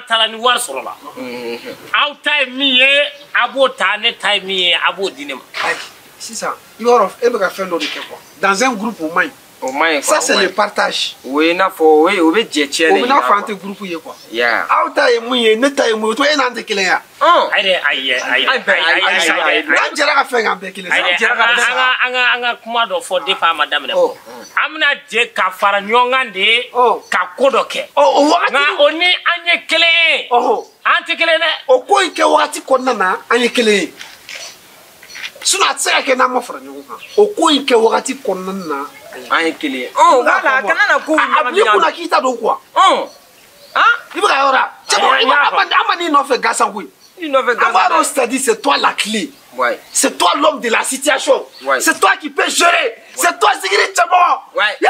taara ni wari sɔrɔla aw ta ye min ye a b'o ta ne ta ye min ye a b'o di ne ma sisan i b'a dɔn e bɛ ka fɛn dɔ de kɛ quoi dans un groupe o man ɲi o man ɲi ça c'est le partage o ye n'a fɔ o ye o bɛ jɛ tiɲɛ de yira o bɛ n'a fɔ an tɛ groupe ye quoi aw ta ye mun ye ne ta ye mun ye o tuma e n'an tɛ kelen ya ayi ayi ayi ayi n'an jɛra ka fɛn k'an bɛɛ kelen sa an jɛra ka fɛn sa an ka an ka kuma dɔ fɔ depuis a ma daminɛ fɔlɔ an bɛna jɛ ka fara ɲɔgɔn kan de ka ko dɔ kɛ o wagati nka o ni an ye kelen ye an tɛ kelen dɛ o ko in kɛ wagati kɔnɔna na an ye kelen ye sinon a tɛ se ka kɛ n'an ma fara ɲɔgɔn kan o ko in kɛ wagati kɔnɔna na an ye kelen ye wala a kana na ko a b'i kunna k'i ta don quoi i bɛ ka yɔrɔ la cɛ an ma n'i nɔfɛ gansan koyi an b'a dɔn c'est-à-dire c'est toi la clé Ouais. C'est toi l'homme de la situation. Ouais. C'est toi qui peux gérer. Ouais. C'est toi, Zigiri Cɛmɔgɔ. Ouais. Yeah.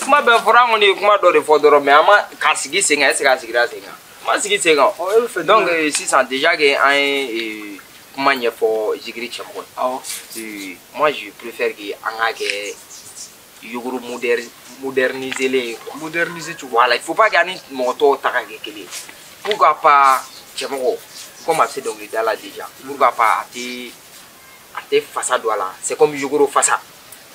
kuma bɛɛ fɔra an kɔni ye kuma dɔ de fɔ dɔrɔn mais an ma ka sigi sen kan est-ce que a sigira sen kan a ma sigi sen kan donc euh, sisan déjà que an ye kuma ɲɛfɔ zigiri cɛmɔgɔ ye moi je préfère que an k'a kɛ yogoro moderniselen ye quoi moderniser cogo voilà il faut pas que an ni mɔgɔ tɔw ta ka kɛ kelen ye pourquoi pas cɛmɔgɔ comme a bɛ se dɔnkilida la déjà pourquoi pas a tɛ a tɛ fasa don a la c'est comme yogoro fasa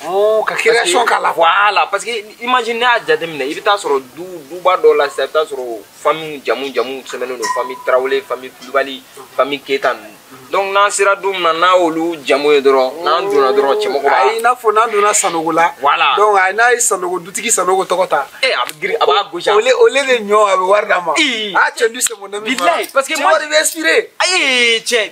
Oh, ka création k'a la voilà parce que imagine ne y'a jateminɛ i bɛ taa sɔrɔ du duba dɔ la sisan i bɛ taa sɔrɔ famille jamu jamu sɛbɛnnen don famille tarawele famille kulubali famille keyita ninnu donc n'an sera du min na n'a y'olu jamu ye dɔrɔn n'an donna dɔrɔn cɛmɔgɔ b'a ayi i n'a fɔ n'an donna sanogo la voilà donc a n'a ye sanogo dutigi sanogo tɔgɔ ta ee eh, a bɛ girin a b'a gosi au lieu au lieu de ɲɔ a bɛ wari d'a ma a cɛ du c'est mon ami fana bilayi parce que cɛ wari bɛ inspiré ayi cɛ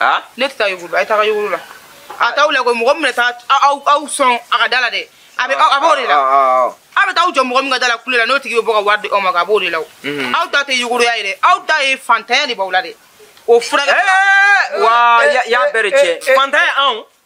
ah? ne tɛ taa yogoro la a ye taga yogoro la a t'aw la koyi mɔgɔ min bɛna taa aw sɔn a ka da la dɛ a bɛ a b'o de la aw bɛ taa aw jɔ mɔgɔ min ka da la kule la n'o tigi bɛ bɔ ka wari di aw ma a b'o de la mhm. aw ta tɛ yogoroya ye dɛ aw ta ye fantanya de b'aw la dɛ o furakɛ wa y'a bɛɛ de tiɲɛ fantanya anw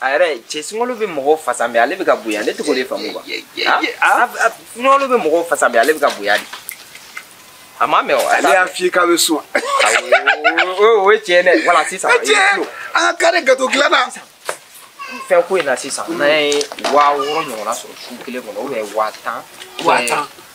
a yɛrɛ cɛ sunkalo bɛ mɔgɔw fasa mais ale bɛ ka bonya ne t'o ko de faamu wa sunkalo bɛ mɔgɔw fasa mais ale bɛ ka bonya di a ma mɛn o ale y'a f'i k'a bɛ sun o ye tiɲɛ dɛ voilà sisan an ka kari gato dilanna fɛn ko in na sisan n'an ye waa wɔɔrɔ ɲɔgɔnna sɔrɔ su kelen kɔnɔ waa tan waa tan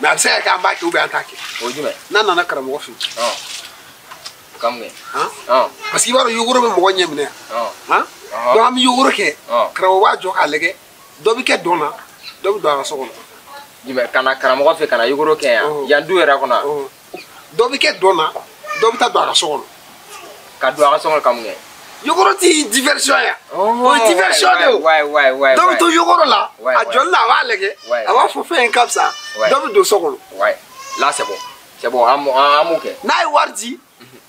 mais a bɛ se ka kɛ an b'a kɛ an t'a kɛ o ye jumɛn n'an nana karamɔgɔ fɛ yen parce que i b'a dɔn yogoro bɛ mɔgɔ ɲɛ minɛ yan donc an bɛ yogoro kɛ karamɔgɔ b'a jɔ k'a lajɛ dɔ bɛ kɛ dɔn na dɔ bɛ don a ka so kɔnɔ jumɛn ka na karamɔgɔ fɛ ka na yogoro kɛ yan yan du yɛrɛ kɔnɔ dɔ bɛ kɛ dɔn na dɔ bɛ taa don a ka so kɔnɔ ka don a ka so kɔnɔ ka mun kɛ yogoro tɛ diversion ya o ye diversion de o dɔ bɛ to yogoro la a jɔlen a b'a lajɛ a b'a fɔ fɛn in ka fisa dɔ bɛ don so kɔnɔ la c'est bon c'est bon an b'o kɛ n'a ye wari di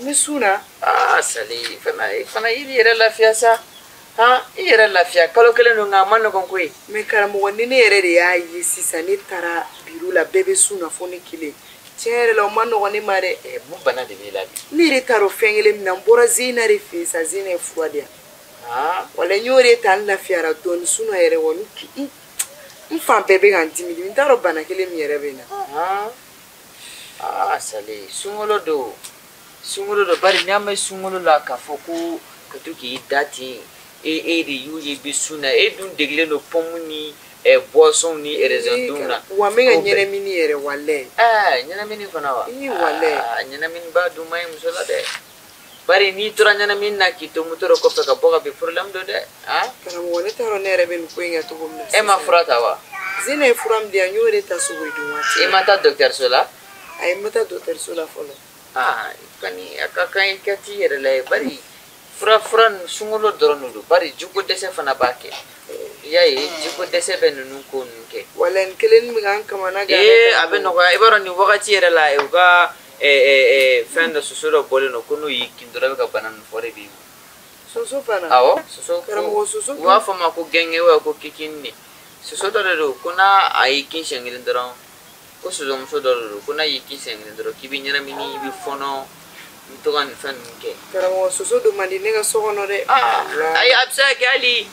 n bɛ sun na aa sali fana fana i yɛrɛ lafiya sa han i yɛrɛ lafiya kalo kelen don nka a man nɔgɔn koyi mɛ karamɔgɔ ni ne yɛrɛ de y'a ye sisan ne taara biro la bɛɛ bɛ sun na fo ne kelen tiɲɛ yɛrɛ la o man nɔgɔn ne ma dɛ eh, mun bana de b'i la bi ne yɛrɛ t'a dɔn fɛn kelen min na n bɔra zeyina de fɛ yen sa zeyina ye fura di yan ah, wala n y'o de ta n lafiyara dɔɔni sinon yɛrɛ wa n fan bɛɛ bɛ ka n dimi dimi n t'a dɔn bana kelen min yɛrɛ bɛ n na ah. aa sali sunkalo don sunkalo don bari n'an bɛ sunkalo la k'a fɔ ko ka to k'i da ten e e de y'u ye bi sun na e dun degelen don pɔmu ni ɛ buwasɔn ni erezɛn dun na wa n bɛ ka ɲɛnamini yɛrɛ walayi aa ɲɛnamini fana wa ɲɛnaminiba dun man ɲi muso la dɛ bari n'i tora ɲɛnamini na k'i to moto dɔ kɔfɛ ka bɔ ka bin problème don dɛ a karamɔgɔ ne t'a dɔn ne yɛrɛ bɛ nin ko in kɛ cogo min na e ma fura ta wa zeyina ye fura min di yan n y'o de ta suguri dun waati i ma taa dɔgɔtɔrɔso la ayi n ma taa dɔgɔtɔrɔso la fɔlɔ aa kɔni a ka kan i ka t'i yɛrɛ lajɛ bari fura fura ninnu sunkalo dɔrɔn de don bari jiko dɛsɛ fana b'a kɛ i y'a ye jiko dɛsɛ bɛ ninnu ko ninnu kɛ wala nin kelen bɛ ka n kamana gan ee a bɛ nɔgɔya i b'a dɔn nin wagati yɛrɛ la u ka fɛn dɔ soso dɔ bɔlen don ko n'o y'i kin dɔrɔn i bɛ ka bana min fɔ de b'i minɛ soso fana awɔ soso karamɔgɔ soso u b'a fɔ ma ko gɛngɛ wa ko kikini de soso dɔ de don ko n'a a y'i kin siɲɛ kelen dɔrɔn ko sosomuso dɔ de don ko n'a y'i kin siɲɛ kelen dɔrɔn k'i bɛ ɲɛnamini i bɛ fɔnɔ i bɛ to ka nin fɛn ninnu kɛ karamɔgɔ soso don man di ne ka so kɔnɔ dɛ ayi a bɛ se ka kɛ hali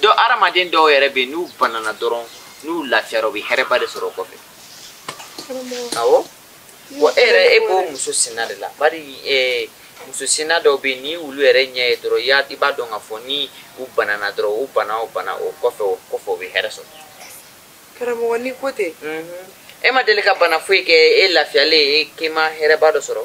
dɔ hadamaden dɔw yɛrɛ bɛ yen n'u banana dɔrɔn n'u lafiyara u bɛ hɛrɛba de sɔrɔ o kɔfɛ awɔ wa e yɛrɛ e b'o muso sinna de la bari muso sinna dɔw bɛ yen ni olu yɛrɛ ɲɛ ye dɔrɔn i y'a i b'a dɔn k'a fɔ ni u banana dɔrɔn u bana o bana o kɔfɛ o kɔfɛ u bɛ hɛrɛ sɔrɔ karamɔgɔ ni ko tɛ e ma deli ka bana foyi kɛ e lafiyalen e k'i ma hɛrɛba dɔ sɔrɔ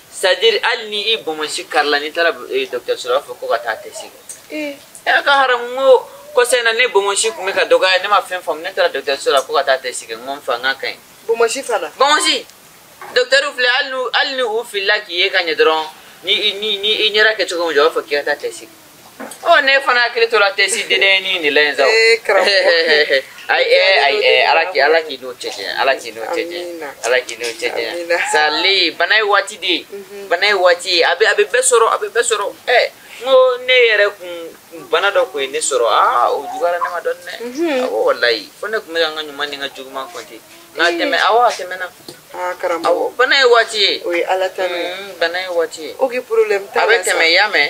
sadiri hali ni i bɔnmɔsi karila n'i taara eh, dɔkitɛriso la u b'a fɔ ko ka taa tɛsi kɛ eh. ɛ k'a haramu n ko kɔsa in na ne bɔnmɔsi tun bɛ ka dɔgɔya ne ma fɛn faamu ne taara dɔkitɛriso la ko ka taa tɛsi kɛ n ko n fa n ka ka ɲi bɔnmɔsi fana bɔnmɔsi dɔkitɛriw filɛ hali ni u filila k'i ye ka ɲɛ dɔrɔn ni i ɲɛda kɛ cogo min jɔ u b'a fɔ k'i ka taa tɛsi kɛ ɔ ne fana hakili tora tɛsi dendennin de la yen sa o. ee karamɔgɔ ayi ɛ ayi ɛ ala k'i ala k'i n'o cɛ janya ala k'i n'o cɛ janya Amina. ala k'i n'o cɛ janya Amina. sali bana ye waati de ye bana ye waati ye a bɛ a bɛ bɛɛ sɔrɔ a bɛ bɛɛ sɔrɔ ɛ n ko ne yɛrɛ kun kun bana dɔ kun ye ne sɔrɔ aa o juguyara ne ma dɔɔni dɛ awɔ walayi fo ne kun bɛ ka n ka ɲuman ni n ka juguman kɔnte nka a tɛmɛ awɔ a tɛmɛna aa karamɔgɔ awɔ bana ye waati ye o ye ala ta de ye Mm, bana ye waati ye o k'i problème t'a la a bɛ tɛmɛ i y'a mɛn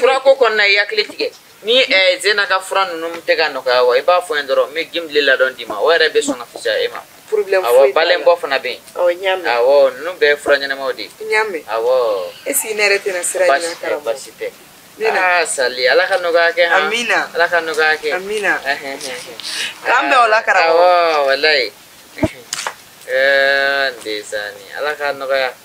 furako kɔni na i hakili tigɛ ni eh, zena ka fura ninnu tɛ ka nɔgɔya wa i b'a fɔ n ye dɔrɔn n bɛ gimle ladɔn d'i ma o yɛrɛ bɛ sɔn ka fisaya e ma awɔ balenbo fana bɛ yen awɔ ninnu bɛɛ ye fura ɲɛnamaw de ye awɔ baasi tɛ baasi tɛ aa ah, sali ala ka nɔgɔya kɛ han amina ala ka nɔgɔya kɛ amina k'an bɛn o la karamɔgɔ awɔ walayi ɛɛ eh, n desani ala ka nɔgɔya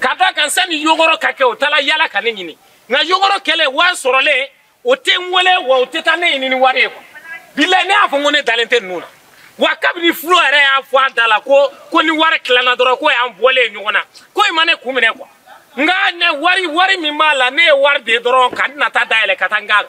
ka da kan sani yogoro ka kɛ o taala yala ka ne ɲini nka yogoro kɛlen wari sɔrɔlen o tɛ n wele wa o tɛ taa ne ɲini ni wari ye quoi bilayi ne y'a fɔ n ko ne dalen tɛ ninnu na wa kabini fulo yɛrɛ y'a fɔ a da la ko ni wari tilanna dɔrɔn k'o y'an bɔlen ye ɲɔgɔn na ko in ma ne kun minɛ quoi nka ne wari wari min b'a la ne ye wari de dɔrɔn ka n nata dayɛlɛ ka taa n k'a la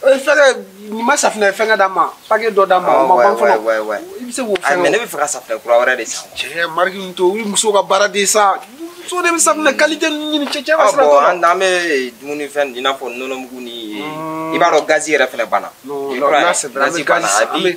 Eh, fɛnkɛ nin ma safinɛ fɛnkɛ d'a ma paquet dɔ d'a ma o ma ban fɔlɔ i bɛ se k'o fɛn mais ne bɛ fɛ ka safinɛ kura wɛrɛ de san cɛ marque ninnu to o ye muso ka baara de sa muso de bɛ safinɛ qualité ninnu ɲini cɛ cɛ ka sira t'o la an bɛ dumunifɛn i n'a fɔ nɔnɔmugu ni i b'a dɔn gazi yɛrɛ fɛnɛ banna n'a sɛbɛnna an bɛ gazi san an bɛ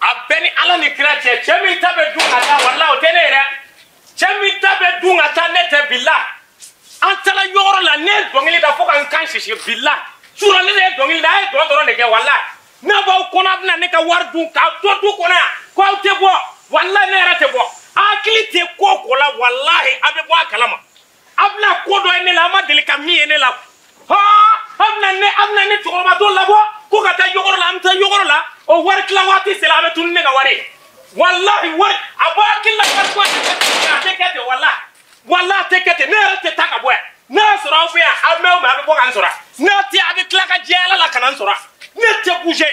a bɛɛ ni ala ni kira cɛ cɛ min ta bɛ dun ka taa wala o tɛ ne yɛrɛ cɛ min ta bɛ dun ka taa ne tɛ bila an taara yɔgɔrɔ la ne ye dɔnkili da fo ka n kan sisi bila sura ne de ye dɔnkili da a ye dɔn dɔrɔn de kɛ wala n'a b'aw kɔnɔ a bɛna ne ka wari dun k'aw to du kɔnɔ yan ko aw tɛ bɔ walahi ne yɛrɛ tɛ bɔ a hakili tɛ ko o ko la walahi a bɛ bɔ a kalama a bɛna ko dɔ ye ne la a ma deli ka min ye ne la ha a bɛna ne a bɛna ne cɛkɔrɔba dɔ labɔ ko ka taa yɔgɔrɔ la an bɛ taa yɔgɔrɔ la o wari tila waati sera a bɛ tunu ne ka wari ye walahi wari a bɔ hakili la wari ko a tɛ kɛ ten a tɛ kɛ ten walahi walahi a tɛ kɛ ten ne yɛrɛ tɛ taa ka bɔ yan n'a y'a sɔrɔ aw fɛ yan aw mɛn o mɛn a bɛ bɔ ka n sɔrɔ n'a tɛ a bɛ tila ka jɛ ala la ka na n sɔrɔ ne tɛ bouger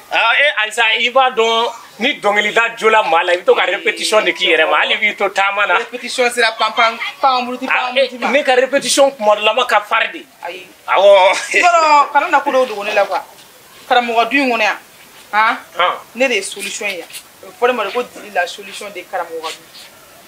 Ah, e ayisa i b'a dɔn ni dɔnkilida jola maa la i bɛ to ka répétition de k'i yɛrɛ ma hali b'i to taama na répétition sera panpan panburuti ah, panburuti ma ne ka répétition kuma dɔ la ma ka fari de ayi awɔ yɔrɔ kana na ko dɔw dogo ne la quoi karamɔgɔ du in kɔnɔ yan han ne de ye solution ye yan o fɔ ne ma de ko dili la solution de karamɔgɔ du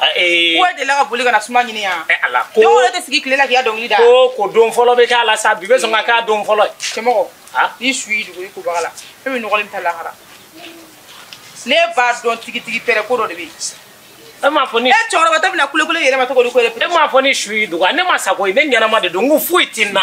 Ah, eh. ko delila ka boli ka na suma ɲini yan eh, ala ko don o tɛ sigi tile la k'i ka dɔnkili da ko ko don fɔlɔ bɛ k'a la sa bi bɛ sɔn ka k'a don fɔlɔ ye cɛmɔgɔ ah? ni su y'i dogo i kobaga la e bɛ nɔgɔlen taa lahara ne b'a dɔn tigitigi pɛrɛ ko dɔ de bɛ yen e m'a fɔ ni e cɛkɔrɔba tɛ bɛna kulekule yɛrɛ ma tɔgɔ di ko e m'a fɔ ni su y'i dogo ne ma sa koyi ne ɲɛnama de don n ko foyi tɛ n na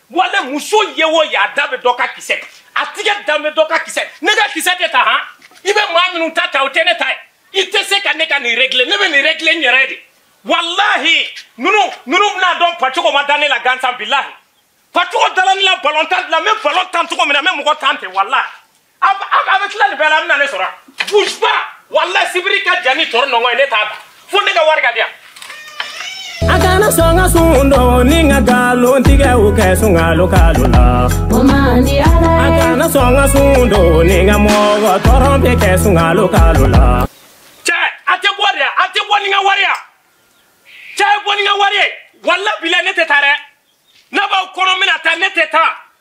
wale muso ye o ye a da bɛ dɔ ka kisɛ a tigɛ da bɛ dɔ ka kisɛ ne ka kisɛ tɛ ta han i bɛ maa minnu ta ta o tɛ ne ta ye i tɛ se ka ne ka nin régler ne bɛ nin régler n yɛrɛ de walahi ninnu ninnu bɛn'a dɔn pacogo ma da ne la gansan bilahi pacogo dala ne la balon tan la n bɛ balon tan cogo min na n bɛ mɔgɔ tan ten walahi a bɛ tila nin bɛɛ la a bɛna ne sɔrɔ bouge pas walayi sibiri ka jan ni tɔɔrɔ nɔngɔn ye ne tɛ taa fo ne ka wari ka di yan. a kana sɔn ka sun don ni ka nkalon tigɛ o kɛ sunkalo kalo la. o man di ala ye. a kana sɔn ka sun don ni ka mɔgɔ tɔɔrɔ bɛ kɛ sunkalo kalo la. cɛ a tɛ bɔ dɛ a tɛ bɔ ni n ka wari ye a tɛ bɔ ni n ka wari ye walayi bila ne tɛ taa dɛ n'a b'aw kɔnɔ min na taa ne tɛ taa.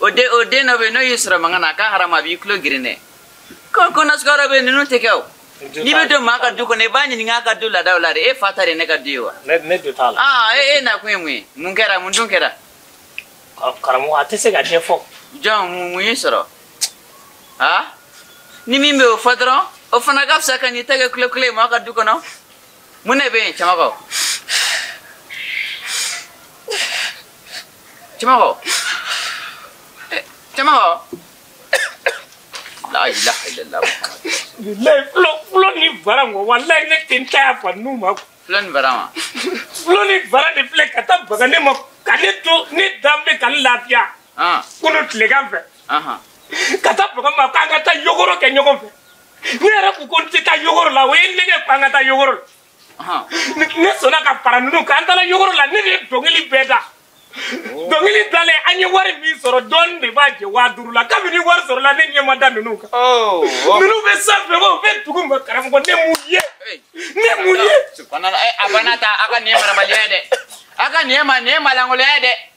o den o den dɔ bɛ yen n'o y'i sɔrɔ mankan na a ka harama a b'i tulo geren dɛ ko ko nasukaro bɛ yen ninnu tɛ kɛ o n'i bɛ don maa ka du kɔnɔ i b'a ɲininka a ka du laadaw la de e fa ta de ye ne ka du ye wa ne dun t'a la aa e e nakun ye mun ye mun kɛra mun dun kɛra karamɔgɔ a tɛ se ka ɲɛfɔ jɔn mun mun y'i sɔrɔ aa ni min bɛ o fɔ dɔrɔn o fana ka fisa ka n'i ta kɛ kulekule ye maa ka du kɔnɔ mun de bɛ yen cɛmɔgɔ Cɛmɔgɔ. Eh, Cɛmɔgɔ. La ilaha illallah. Bilayi fulo fulo ni bara wo walayi ne tɛ n ta yafa ninnu ma. Fulo ni bara ma. Fulo ni bara de filɛ ka taa baga ne ma ka ne to ne dan bɛ ka ne lafiya. Ah. Kunu tilegan fɛ. Ahan. Ka taa baga n ma k'an ka taa yogoro kɛ ɲɔgɔn fɛ. Ne yɛrɛ ko ko n tɛ taa yogoro la u ye n nɛgɛn ko an ka taa yogoro la. ne sɔnna ka fara ninnu kan an taara yogoro la ne de ye dɔnkili bɛɛ da oh. dɔnkili dalen an ye wari min sɔrɔ dɔɔni de b'a jɛ waa duuru la kabini wari sɔrɔla ne ɲɛ ma da ninnu kan oh, oh. ninnu bɛ sanfɛ wa u bɛ dugu ma karamɔgɔ ne m'u ye ne m'u ye. Eh, a banna ta a ka nin ye marabaliya ye dɛ a ka nin ye ma nin ye maalankolonya ye dɛ.